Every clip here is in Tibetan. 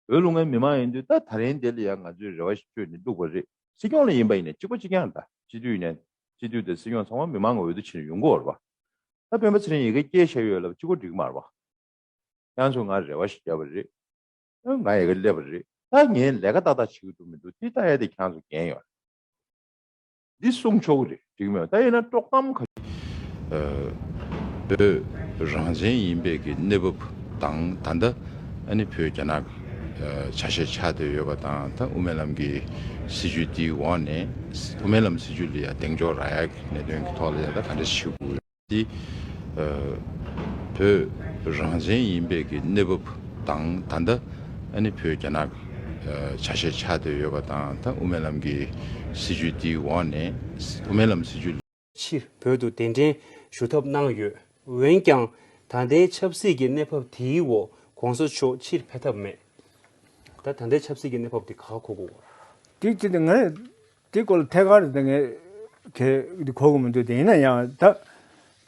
བོད་ལུང་ངའི་མི་མང་ཡིན་དུས་ད་ད་རིང་འདི་ལ་ཡང་ང་ཚོའི་རེ་བ་ཞིག་བཅོལ་ནས་འདུག་པ་རེད། སྲིད་སྐྱོང་ལ་ཡིན་པ་ཡིན་ནས་གཅིག་པ་གཅིག་རྐྱང་དང་སྤྱི་འཐུས་ཡིན་ནས་སྤྱི་འཐུས་དང་སྲིད་སྐྱོང་ཚང་མ་མི་མང་གི་འོས་བསྡུ་བྱས་ནས་ཡོང་གི་འོར་བ། ད་སྤེན་པ་ཚེ་རིང་ཡི་གེ་སྐྱེལ་བཞག་ཡོད་ལབ་སྤྱི་གོ་འགྲིག་མར་བ། ཡང་ཚོ་ང་རེ་བ་ཞིག་བརྒྱབ་པ་རེད། ང་ཡི་གེ་སླེབས་པ་རེད། ད་ངས་ལས་ཀ་ཏག་ཏག་བྱེད་གི་འདུག་མི་འདུག་དེ་ལྟ་ཡས་དེ་ཁྱང་ཚོ་འགན་ཡོད་རེད། འདི་གསུང་ཆོག་གི་རེད་འགྲིག་མོད་ད་ཡིན་ན་དཀྲོག་གཏམ་ག། བོད་རང་བཙན་ཡིན་པས་ཀྱི་གནས་བབ་དང་ད་ལྟ་ཨ་ནི་བོད་རྒྱ་ནག་ཆ་ཤས་ཆགས་སྡོད་ཡོད་པ་དང་ད་དབུ་མའི་ལམ་གྱི་སྲིད་བྱུས་འདིའི་འོག་ནས་དབུ་མའི་ལམ་སྲིད་བྱུས་ལ་ཡང་གདེང་འཇོག་རག་ཡག་གི་གནད་དོན་གྱི་ཐོག་ལ་ཡང་ད་ག་འདྲ་བྱེད་དགོས། འདི་བོད་རང་བཙན་ཡིན་པའི་གི་གནས་བབ་དང་ད་ལྟ་ཨ་ནི་བོད་རྒྱ་ནག་ཆ་ཤས་ཆགས་བསྡད་ཡོད་པ་དང་ད་དབུ་མའི་ལམ་གི་སྲིད་བྱུས་འདིའི་འོག་ནས་དབུ་མའི་ལམ་སྲིད་བྱུས། ཕྱིར་བོད་དུ་གདན་འདྲེན་ཞུ་ཐབས་གནང་ཡོད། འོན་ཀྱང་ད་ལྟའི་ཆབ་སྲིད་ཀྱི་གནས་བབ་དེའི་འོག་གོང་ས་མཆོག་ཕྱིར་ཕེབས་ཐབས་མེད། ད་ད་ལྟའི་ཆབ་སྲིད་ཀྱི་གནས་བབ་དེ་ག་གོ་དགོས། དེ་ཅི་སྟེ་ངས་དེའི་སྐོར་ལ་ཐད་ཀར་དེ་ངས་ཁྱེད་ཀྱི་གོ་གི་མི་འདུག་དེ་ཡིན་ན་ཡང་ད་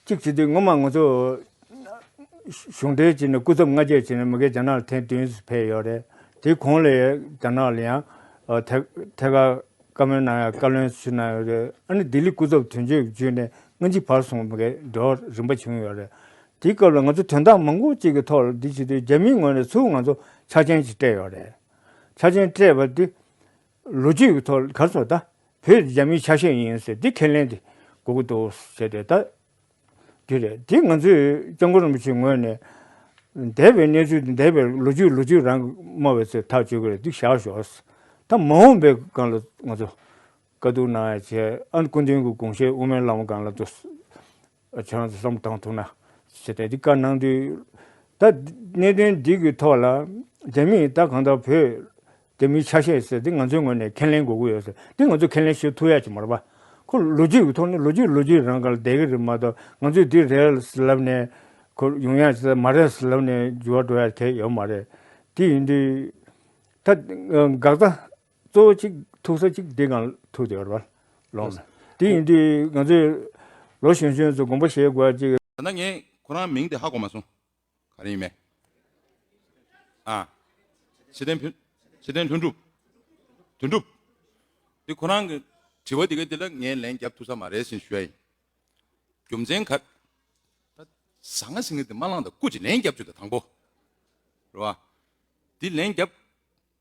གཅིག་བྱེད་དུས་སྔོན་མ་ང་ཚོ་གཞུང་འབྲེལ་གྱིས་ནས་སྐུ་ཚབ་ང་བཅས་བྱས་ནས་མི་སྒེར་རྒྱ་ནག་ལ་ཐེངས་བདུན་ཕེབས་ཡོད་རེད་དེའི་གོང་ལས་རྒྱ་ནག་ལ་ཡང་ཐད་ཀར་བཀའ་མོལ་གནང་ཡ་བཀའ་བློན་ཞུས་གནང་ཡོད་རེད་ཨ་ནི་ལྡི་ལི་སྐུ་ཚབ་དོན་གཅོད་བརྒྱུད་ནས་ལྔ་གཅིག་བར་སོང་མི་སྒེར་འགྲོ་རིམ་པ་བྱུང་ཡོད་རེད་དེའི་སྐབས་ལ་ང་ཚོ་དོན་དག་མང་པོ་གཅིག་གི་ཐོག་ལ་འདི་བྱེད་དུས་རྒྱ་མིའི་ངོས་ནས་ཚུར་ང་ཚོ་ཆ་རྐྱེན་གཅིག་སྤྲད་ཡོད་རེད་ཆ་རྐྱེན་སྤྲད་པ་དེ་ལོ་རྒྱུས་ཀྱི་ཐོག་གར་སོང་ད་བོད་རྒྱ་མིའི་ཆ་ཤས་ཡིན་ཟེར་དེ་ཁས་ལེན་དེ་དགོས་ཀྱི་འདུག་ཟེར་ཏེ་ད་རྒྱུ་རེད་དེ་ང་ཚོས་སྐྱབས་མགོན་རིན་པོ་ཆེའི་ངོས་ནས་འདས་པའི་གནས་ཚུལ་དང་འདས་པའི་ལོ་རྒྱུས་ལོ་རྒྱུས་རང་སྨྲ་བའི་ཚུལ་ཐག་གཅོད་ཀྱི་རེད་འདུག་བཞག་ཞོགས་ད་མ་འོངས་པའི་སྒང་ལ་ང་ཚོ་དཀའ་སྡུག་གནང་ཡ་བྱས་ཨ་སྐུ་མདུན་གྱི་དགོངས་བཞེད་དབུ་མའི་བླ་མ་སྒང་ལ་འདུག་བྱང་ཆུབ་སེམས་དང་ཐུག་ན། ཞེས་པའི་གཏེར་ཁ་ནང་དུ། ད་གནད་དོན་འདི་གི་ཐོག་ལ། རྒྱ་མིས་ད་གང་ལྟར་བོད་རྒྱ་མིའི་ཆ་ཤས་ཟེར་འདི་ང་ཚོའི་ངོས་ནས་ཁས་ལེན་དགོས་ཀྱི་ཡོད་ཟེར་འདི་ང་ཚོས་ཁས་ལེན་ཞུ་ཐུབ་ཡ་ཅི་མ་རེད་པ། ཁོ་ལོ་རྒྱུས་ཀྱི་ཐོག་ནས་ལོ་རྒྱུས་ལོ་རྒྱུས་རང་ག་ལ་བསྡད་ཀྱི་རེད་མ་གཏོགས་ང་ཚོས་འདི་རེད་ལབ་ནས། ཁོ་ཡོང་ཡ་ཟེར་མ་རེད་ཟེར་ལབ་ནས་འགྱུར་བ་འགྲོ་ཡ་ཁས་ཡོད་མ་རེད། དེ་ཡིན་དུས། ད། འགག་རྩ། གཙོ་བོ་གཅིག་ཐུག་ས་གཅིག་འདི་གང་ཐུག་དེ་བར་ལོག་ན། དེ་ཡིན་དུས་ང་ཚོས་ལོ་གཞོན་གཞོན་ཚོ་དགོངས་པ་བཞེས་དགོས་གཅིག། ད་ལྟ་ངས་ཁོ་རང་མིང་དེ་ཧ་གོ་མ་སོང། ག་རེ་ཡིན་མེད། ཨ། ཆེ་བསྟན་ཕུན། ཆེ་བསྟན་ལྷུན་གྲུབ། དོན་གྲུབ། དེ་ཁོ་རང་གི་དྲི་བ་དེ་ག་དེ་ལ་ངས་ལན་རྒྱབ་ཐུག་ས་མ་རེད་ཟེར་ཞུ་ཡ་ཡིན། རྒྱུ་མཚན་ག། ད་ཟ་ང་ཟེར་ངེས་དེ་མ་བླངས་ད་སྐུ་ཅིག་ལན་རྒྱབ་ཆོད་ད་དང་པོ། རེད་བ། དེ་ལན་རྒྱབ།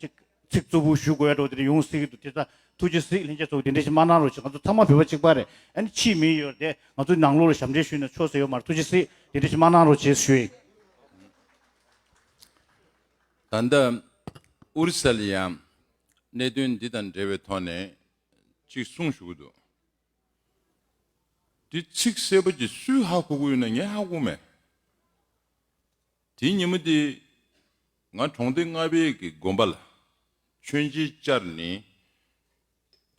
ཅིག། ཚིག་རྩུབ་པོ་ཞུ་དགོས་ཡ་འགྲོ་དེ་རིང་ཡོང་སྲིད་ཀྱི་འདུག་དེ་ཚ་ཐུགས་རྗེ་གཟིགས་ལྷན་རྒྱས་ཚོགས་འདི་འདྲའི་ཞིག་མ་གནང་རོགས་ཞེས་ང་ཚོ་ཚང་མ་བོད་པ་གཅིག་པ་རེད་ཨ་ནི་ཕྱིའི་མི་ཡོད་རེད་ང་ཚོ་ནང་ལོགས་ལ་ཞབས་འདྲེན་ཞུས་ན་ཆོག་ཟེར་ཡོད་མ་རེད་ཐུགས་རྗེ་གཟིགས་འདི་འདྲའི་ཞིག་མ་གནང་རོགས་བྱས་ཞུ་ཡིག། ད་ལྟ་ཨུ་རི་སཱ་ལས་ཡང་གནད་དོན་འདི་དང་འབྲེལ་བའི་ཐོག་ནས་ཅིག་གསུངས་ཞུ་གི་འདུག་དེ་ཚིག་གསལ་པོ་ཅིག་སུས་ཧ་གོ་གི་ཡོད་ན་ངས་ཧ་གོ་མེད། དེའི་ཉིན་མོ་དེ། ང་གྲོང་སྡེ་ལྔ་བེད་ཀྱི་དགོན་པ་ལ་མཆོད་མཇལ་བཅར་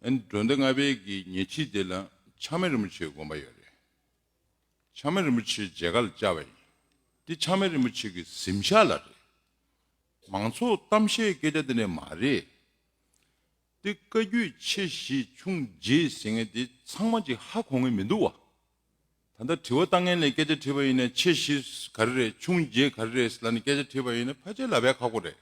ནས། གྲོང་སྡེ་ལྔ་བེད་ཀྱི་ཉེ་ཁྲིས་དེ་ལ་ཆགས་མེད་རིན་པོ་ཆེའི་དགོན་པ་ཡོད་རེད། ཆགས་མེད་རིན་པོ་ཆེའི་མཇལ་ཁ་ལ་བཅར་བ་ཡིན། དེ་ཆགས་མེད་རིན་པོ་ཆེ་གི་གཟིམ་ཤག་ལ་རེད། མང་ཚོགས་གཏམ་བཤད་སྐད་ཆ་དེ་འདྲ་མ་རེད། དེ་བཀའ་རྒྱུད་ཆེ་བཞི་ཆུང་བརྒྱད་ཟེར་མཁན་དེ་ཚང་མ་གཅིག་ཧ་གོ་ངེས་མི་འདུག་བ། ད་ལྟ་དྲི་བ་ལྟ་ངན་ལས་སྐད་ཆ་དྲིས་པ་ཡིན་ནས་ཆེ་བཞི་ག་རེ་རེད་ཆུང་བརྒྱད་ག་རེ་རེད་ལ་ནི་སྐད་ཆ་དྲིས་པ་ཡིན་ནས་ཕལ་ཆེར་ལབ་ཡ་ཁག་པོ་རེད།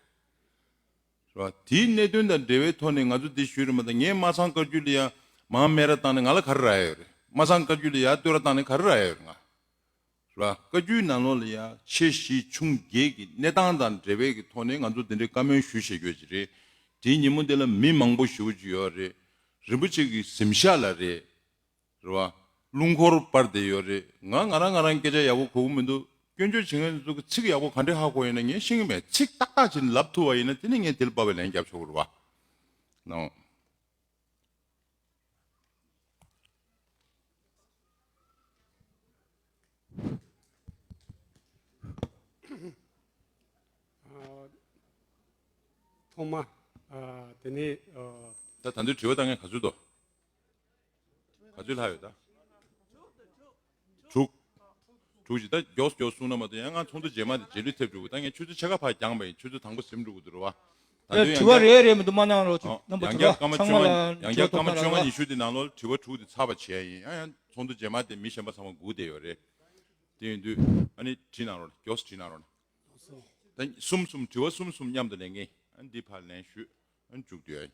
རེད་བ། དེའི་གནད་དོན་དང་འབྲེལ་བའི་ཐོག་ནས་ང་ཚོ་འདི་ཞུས་རེད་མ་ད་ངས་སྨྲ་སངས་བཀའ་རྒྱུད་ལ་ཡ་མང་སྨད་ར་བཏང་ནས་ང་ལ་ག་རེ་རག་ཡ་ཡོད་རེད་སྨྲ་སངས་བཀའ་རྒྱུད་ལ་ཡ་བསྟོད་ར་བཏང་ནས་ག་རེ་རག་ཡ་ཡོད་རེད་ང། རེད་བ། བཀའ་རྒྱུད་ནང་ལོགས་ལ་ཡ་ཆེ་བཞི་ཆུང་བརྒྱད་ཀྱི་གནས་སྟངས་དང་འབྲེལ་བའི་ཀྱི་ཐོག་ནས་ང་ཚོ་འདི་འདྲའི་བཀའ་མོལ་ཞུ་ཞེས་ཡོད་ཀྱི་རེད་དེའི་ཉིན་མོ་འདི་ལ་མི་མང་པོ་ཞུ་གི་ཡོད་རེད་རིན་པོ་ཆེ་གི་གཟིམ་ཤག་ལ་རེད། རེད་བ། རླུང་འཁོར་པར་དེ་ཡོད་རེད་ང་ང་རང་ང་རང་སྐད་ཆ་ཡག་པོ་གོ་གི་མི་འདུག་སྐྱོན་བརྗོད་བྱེད་མཁན་ཚོ་གི་ཚིག་ཡག་པོ་ག་འདྲི་ཧ་གོ་ཡིན་ན་ངས་ཤེས་གི་མེད་ཚིག་ཏག་ཏག་བྱས་ནས་ལབ་ཐུབ་བ་ཡིན་ན་དེ་ནས་ངས་དེ་ལ་དཔའ་བའི་ལན་རྒྱབ་ཆོག་གི་རེད་བ། ནའོ། ཐོག་མ། དེ་ནས། ད་ད་འདོད་དྲི་བ་ད་ངས་ག་ཚོད་དོ། ག་ཚོད་ལྷག་ཡོད་ད། དྲུག། དྲུག་ཅིག་ད་མགྱོགས་སུ་མགྱོགས་སུ་སོང་ན་མ་གཏོགས་ཡང་ང་ཚོགས་འདུ་རྗེས་མ་དེ་རྗེས་ལུས་ཐེབས་འགྲོ་གི་ད་ངས་ཆུ་ཚོད་ཕྱེད་ཀ་ཕར་འགྱངས་པ་ཡིན་ཆུ་ཚོད་དང་པོ་གཟིམ་འགྲོ་གི་འདུག་རེད་བ། དྲི་བ་རེ་རེ་མི་འདུག་མ་གནང་རོགས་གཅིག་རྣམ་པ་དྲི་བ་ཚང་མ་ལ་ཡང་བརྒྱག་སྐར་མ་བཅོ་ལྔ་ཉི་ཤུ་དེ་ནང་ལོགས་ལ་དྲི་བ་དྲུག་དེ་ཚར་བ་བྱས་ཡིན་ཡང་ཡང་ཚོགས་འདུ་རྗེས་མ་དེ་མི་གཞན་པ་ཚང་མ་སྒུག་བསྡད་ཡོད་རེད། དེ་ཡིན་དུས་ཨ་ནི་བྲིས་གནང་རོགས་མགྱོགས་སུ་བྲིས་གནང་རོགས། ད་གསུམ་གསུམ་དྲི་བ་གསུམ་གསུམ་མཉམ་དུ་ལེན་གིན་ཨ་ནི་འདི་ཕར་ལེན་ཞུས་ཨ་ནི་མཇུག་བསྡུ་ཡ་ཡིན།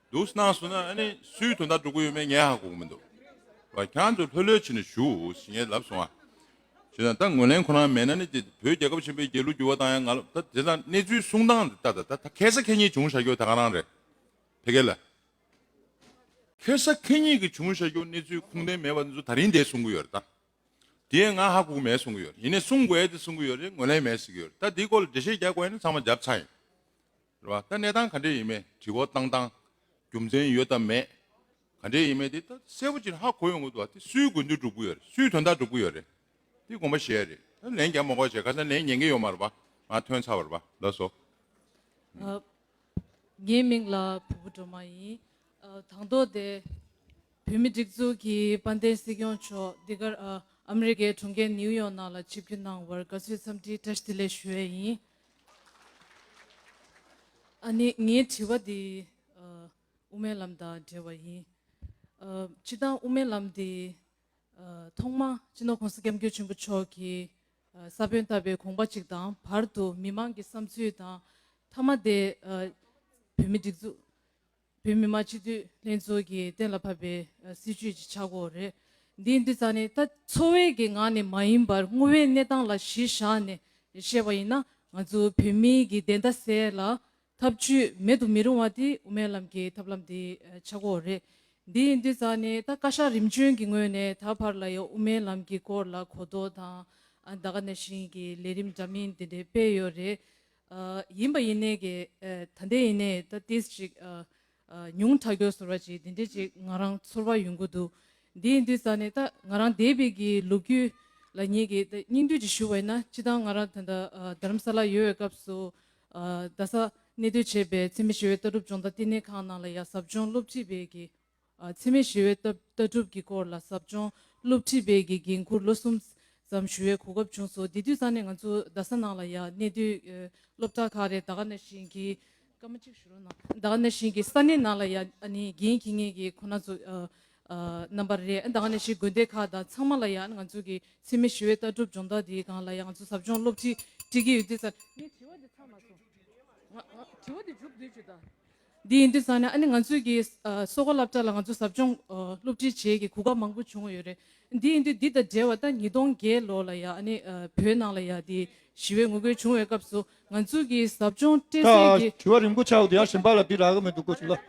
འདུག་སྣང་སོང་ན་ཨ་ནི་སུའི་དོ་ཟླ་འགྲོ་གི་ཡོད་མེད་ངས་ཧ་གོ་གི་མི་འདུག་བ་གྱང་དུ་ལྷོད་ལྷོད་བྱས་ནས་བཞུགས་ཞེས་ངས་ལབ་སོང་ཨ་ཞེས་དང་ད་ངོས་ལེན་ཁོ་རང་མེད་ན་ནི་དེ་བོད་རྒྱལ་ཁབ་ཆེན་པོའི་རྒྱལ་གླུ་བསྒྱུར་བ་དང་ཡང་ང་ལབ་ད་དེ་ལ་གནས་ཚུལ་གསུང་སྟངས་འདི་ལྟ་ད་ད་ཁེ་ས་ཁེ་གཉིས་བྱུང་བཞག་རྒྱུ་ད་ག་རང་རེད་ཕེ་གེ་ལ། ཁེ་ས་ཁེ་གཉིས་ཀྱི་བྱུང་བཞག་རྒྱུ་གནས་ཚུལ་ཁུངས་ལྡན་མེད་པ་འདི་ཚོ་ད་རིང་འདས་གསུང་གི་ཡོད་རེད་ད་དེ་ཡང་ང་ཧ་གོ་གི་མེད་གསུང་གི་ཡོད་རེད་ཡིན་ནས་གསུང་དགོས་ཏེ་གསུང་གི་ཡོད་རེད་ངོས་ལེན་མེད་ཟེར་གི་ཡོད་རེད་ད་དེའི་སྐོར་ལ་འགྲེལ་བཤད་རྒྱག་དགོས་ན་ནི་ཚང་མ་རྒྱབ་ཚར་ཡིན། རེད་བ། ད་གནས་སྟངས་ག་འདྲས་ཡིན་མེད་དྲི་བ་བཏང་སྟངས་རྒྱུ་མཚན་ཡོད་དམ་མེད། ག་འདྲས་ཡིན་མེད་དེ་ད་གསལ་བོ་ཅིག་ཧ་གོ་ཡོང་གི་འདུག་བ། དེ་སུའི་དགོས་འདུན་འགྲུབ་གི་ཡོད་རེད་སུའི་དོན་དག་འགྲུབ་གི་ཡོད་རེད། དེ་དགོངས་པ་བཞེས་རེད་ད་ལན་རྒྱ་མ་གོ་བྱས་ག་ཚད་ལན་ཉན་གི་ཡོད་མ་རེད་བ། ང་ཐོན་ཚར་བ་རེད་བ་ལགས་སོ། ངའི་མིང་ལ་བུ་བུ་སྒྲོལ་མ་ཡིན། དང་ཐོག་དེ་བོད་མི་སྒྲིག་འཛུགས་ཀྱི་དཔལ་ལྡན་སྲིད་སྐྱོང་མཆོག་འདི་གར་ཨ་མི་རི་ཀའི་གྲོང་ཁྱེར་ནིའུ་ཡོག་ནང་ལ་ཆིབས་བསྒྱུར་གནང་བར་དགའ་བསུའི་འཚམས་འདྲིའི་བཀྲ་ཤིས་བདེ་ལེགས་ཞུ་བས་ཡིན། ཨ་ནི་ངའི་དྲི་བ་འདི་དབུ་མའི་ལམ་དང་འབྲེལ་བ་ཡིན། སྤྱི་བཏང་དབུ་མའི་ལམ་འདི་ཐོག་མ་སྤྱི་ནོར ྋགོང་ས ྋསྐྱབས་མགོན་ཆེན་པོ་མཆོག་གིས་ས་བོན་བཏབ་པའི་དགོངས་པ་གཅིག་དང་བར་དུ་མི་མང་གི་བསམ་ཚུལ་དང་མཐའ་མ་དེ་བོད་མི་སྒྲིག་འཛུགས་བོད་མི་མང་སྤྱི་འཐུས་ལྷན་ཚོགས་ཀྱིས་གཏན་ལ་ཕབ་པའི་སྲིད་བྱུས་ཀྱི་ཆག་སྒོ་རེད། འདིའི་འདི་ཙམ་ནི་ད། འཚོ་བའི་གི་ངང་ནས་མ་ཡིན་པར་དངོས་བའི་གནས་སྟངས་ལ་གཞི་བཞག་ནས་བཤད་པ་ཡིན་ན་ང་ཚོ་བོད་མིའི་གི་བདེན་མཐའ་གསལ་ལ། ཐབས་བྱུས་མེད་དུ་མི་རུང་བ་དེ་དབུ་མའི་ལམ་གྱི་ཐབས་ལམ་དེའི་ཆག་སྒོ་རེད། འདིའི་འདི་ཙམ་ནི་ད་བཀའ་ཤག་རིམ་བྱོན་གྱི་ངོས་ནས་ད་བར་ལ་ཡང་དབུ་མའི་ལམ་གྱི་སྐོར་ལ་གོ་རྟོགས་དང། ཟླ་ག་ནས་བཞིན་གྱི་ལས་རིམ་འདྲ་མིན་དེ་འདྲའི་སྤེལ་ཡོད་རེད། ཡིན་པ་ཡིན་ནའི་གི། ད་ལྟའི་ཡིན་ནའི་ད་ལྟའི་ཅིག། ཉུང་དྲག་གྱོ་ཟོར་བ་ཅིག་འདི་འདྲའི་ཅིག་ང་རང་ཚོར་བ་ཡོང་གི་འདུག་འདི་ཡིན་དུས་ས་ནི་ད་ང་རང་འདས་པའི་གི་ལོ་རྒྱུས་ལ་ཉེ་གི་ད་སྙིང་བསྡུས་ཅིག་ཞུ་བ་ཡིན་ན་སྤྱི་བཏང་ང་རང་ད་ལྟ་རྡ་རམ་ས་ལ་ཡོད་བའི་སྐབས་སུ། རྡ་ས་གནས་སྡོད་བྱས་པའི་འཚེ་མེད་ཞི་བའི་ལྟ་གྲུབ་སྦྱོང་བརྡ་བསྟི་གནས་ཁང་ནང་ལ་ཡ་གཟབ་སྦྱོང་སློབ་ཁྲིད་པའི་གི་འཚེ་མེད་ཞི་བའི་ལྟ་གྲུབ་ཀྱི་སྐོར་ལ་ཟབ་སྦྱོང་སློབ་ཁྲིད་སྤེལ་གྱི་འགན་འཁུར་ལོ་གསུམ་ཙམ་ཞུ་བའི་གོ་སྐབས་བྱུང་སོང་དེ་དུས་ས་གནས་ང་ཚོ་རྡ་ས་ནང་ལ་ཡང་གནས་དུས་སློབ་གྲྭ་ཁག་རེད་ད་ག་ནས་བཞིན་གྱི་སྐར་མ་གཅིག་ཞུ་རོགས་གནང་ད་ག་ནས་བཞིན་གྱི་ས་གནས་ནང་ལ་ཡང་རྒན་གྱི་ངེད་ཀྱི་ཁོ་ན་ཚོ་རྣམ་པ་རེད་ད་ག་ནས་བཞིན་དགོན་སྡེ་ཁག་དང་ཚང་མ་ལ་ཡང་ང་ཚོ་གི་འཚེ་མེད་ཞི་བའི་ལྟ་གྲུབ་སྦྱོང་བརྡར་དེའི་སྒང་ལ་ཡང་ང་ཚོ་ཟབ་སྦྱོང་སློབ་ཁྲིད་སྤྲད་ཀྱི་ཡོད་དུས་ས་ངས་དྲི་བ་དེ་ཚང་མ་སོང་ང་དྲི་བ་དེ་འཇུག་དུས་ཆུ་ད། འདི་ཡིན་དུས་བསམ་ན་ཨ་ནི་ང་ཚོའི་གི་གསོ་བཀའ་བསླབ་གྲྭ་ལ་ང་ཚོ་ཟབ་སྦྱོང་སློབ་ཁྲིད་བྱེད་གི་གོ་སྐབས་མང་པོ་བྱུང་ཡོད་རེད། འདི་ཡིན་དུས་འདི་དང་འབྲེལ་བ་ད་ཉིས་སྟོང་བརྒྱད་ལོ་ལ་ཡང་ཨ་ནི་བོད་ནང་ལ་ཡང་དེ་ཞི་བའི་ངོ་རྒོལ་བྱུང་བའི་སྐབས་སུ་ང་ཚོའི་གི་ཟབ་སྦྱོང་སྤྲེལ་ཟེར་གི། དྲི་བ་རིང་པོ་ཆགས་འདུག་ཡང་ཞིམ་པ་ལ་འདི་རག་གི་མི་འདུག་གོ་ཞིག་ལ།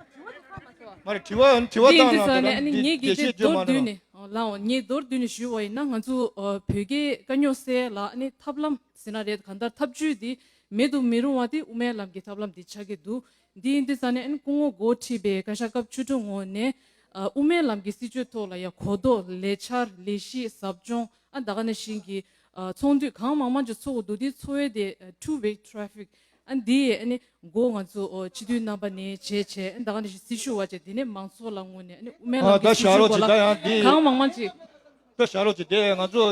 མ་རེད་དྲི་བ་ཡང་དྲི་བ་འདི་ཡིན་གཏང་དུས་རང་བསམ་ནས་ཨ་ནི་དེ་ངེད་རྣམས་ཀྱི་རྒྱས་བཤད་དེ་བརྗོད་མདོར་མ་བསྡུས་གནང། ནས་ལའང་ངེད་མདོར་བསྡུས་ནས་ཞུས་བ་ཡིན་ན་ང་ཚོ་བོད་རྒྱའི་དཀའ་རྙོག་སེལ་ལ་ཨ་ནི་ཐབས་ལམ་ཟེར་ན་རེད་གང་ལྟར་ཐབས་བྱུས་འདི་མེད་དུ་མི་རུང་བ་དེ་དབུ་མའི་ལམ་གྱི་ཐབས་ལམ་དེ་ཆགས་ཀྱི་འདུག་འདི་ཡིན་དུས་ཙཱ་ནེ་ཨན་སྐུ་ངོ་མགོ་ཁྲིད་པའི་བཀའ་ཤག་སྐབས་བཅུ་དྲུག་ངོ་ནས། དབུ་མའི་ལམ་གྱི་སྲིད་བྱུས་ཐོག་ལ་ཡང་གོ་རྟོགས་ལས་འཆར་ལས་གཞི་ཟབ་སྦྱོང་ཨ་ད་ག་ནས་བཞིན་གྱི་ཚོགས་འདུས་གང་མང་མང་ཅིག་ཚོགས་ཀྱི་འདུག་དེའི་འཚོ་བའི་དེ Two Way Traffic ཨན་དེ་ཡིས་ཨན་མགོ་ང་ཚོ་སྤྱི་འཐུས་རྣམ་པ་ནས་བྱས་བྱས་ཨན་ད་ག་ནས་བཞིན་སྲི་ཞུ་བ་བྱས་དེ་ནས་མང་ཚོགས་ལ་ངོ་ནས་ཨན་དབུ་མའི་ལམ་གྱི་སྲིད་བྱུས་སྐོར་ལ་གང་མང་མང་ཅིག། ད་བྱ་རོགས་ཀྱི་དེ་ང་ཚོ་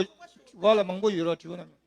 བ་ལ་མང་པོ་ཡོད་རོགས་བྲིས་པ་རྣམས།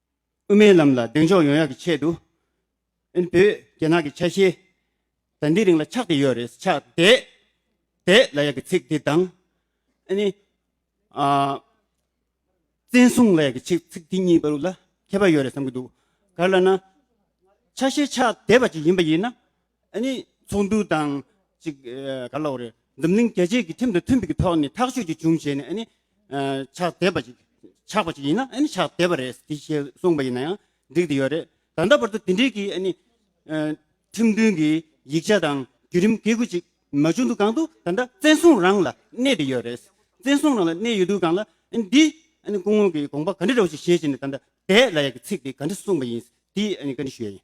དབུ་མའི་ལམ་ལ་གདེང་འཇོག་ཡོང་ཡག་གི་ཆེད་དུ། ཨིན་བོད་རྒྱ་ནག་གི་ཆ་ཤས་ད་འདི་རིང་ལ་ཆགས་བསྡད་ཡོད་རེད། ཆགས་བསྡད། བསྡད་ལ་ཡག་གི་ཚིག་འདི་དང། ཨ་ནི། བཙན་བཟུང་ལ་ཡག་གི་ཆིག་ཚིག་འདི་གཉིས་བར་ལ་ཁྱད་པར་ཡོད་རེད་བསམ་གྱི་འདུག་ག་ལ་ན། ཆ་ཤས་ཆགས་བསྡད་པ་ཅིག་ཡིན་པ་ཡིན་ན། ཚོགས་འདུ་དང། འཛམ་གླིང་རྒྱལ་གཅེས་ཀྱི་ཁྲིམས་དང་མཐུན་པའི་གི་ཐོག་ནས་ཐག་གཅོད་ཅིག་བྱུང་བྱས་ནས། ཕྱག་དེད་པ་ཅིག་ཆགས་པ་ཅིག་ཡིན་ན་ཕྱག་དེད་པ་རེད་དེ་ཞེས་གསུངས་པ་ཡིན་ན་ཡང་འགྲིག་དེ་ཡོད་རེད། ད་ལྟ་བར་དུ་དེ་འབྲེལ་གྱི། ཁྲིམས་མཐུན་གྱི་ཡིག་ཆ་དང་བརྒྱུད་རིམ་འགེལ་དགོས་ཅིག་མ་བྱུང་འདུག་གང་དུ་ད་ལྟ་བཙན་བཟུང་རང་ལ་གནས་དེ་ཡོད་རེད། བཙན་བཟུང་རང་ལ་གནས་ཡོད་དུས་གང་ལ། འདི། སྐུ་ངོ་གིས་དགོངས་པ་ག་འདྲི་རེད་བྱས་བྱས་ནས་ད་ལྟ་དེད་ལ་ཡ་གི་ཚིག་དེ་ག་འདྲི་གསུངས་པ་ཡིན་དེ་ག་འདྲི་ཞུ་ཡ་ཡིན།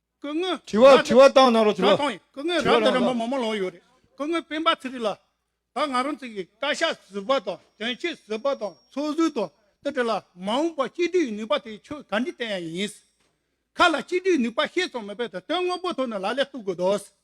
སྐུ་ངོས་ར་དྲི་བ་འདི་དྲི་བ་བཏང་གནང་རོགས་དྲི་ར་བ་བཏང་ཡིན་སྐུ་ངོས་ར་འདི་ར་མོ་མོ་མོ་ལོང་ཡོད་རེད་སྐུ་ངོས་སྤེན་པ་ཚེ་རིང་ལགས་ད་ང་རང་ཚེ་གི་བཀའ་ཤག་ཟུར་པ་དང་དོན་གཅོད་ཟུར་པ་དང་ཚོགས་ཟུར་དང་དེ་དྲི་ལ་མ་འོངས་པ་སྤྱི་འཐུས་ཡི་ནུས་པ་དེ་ཆོས་ག་འདྲི་བསྟན་ཡ་ཡིན། ཁ་ལ་སྤྱི་འཐུས་ནུས་པ་ཤེས་ཙང་མེད་པའི་དོན་དངོས་པོ་ཐོག་ནས་ལ་ལས་གཏུག་དགོས་དོ།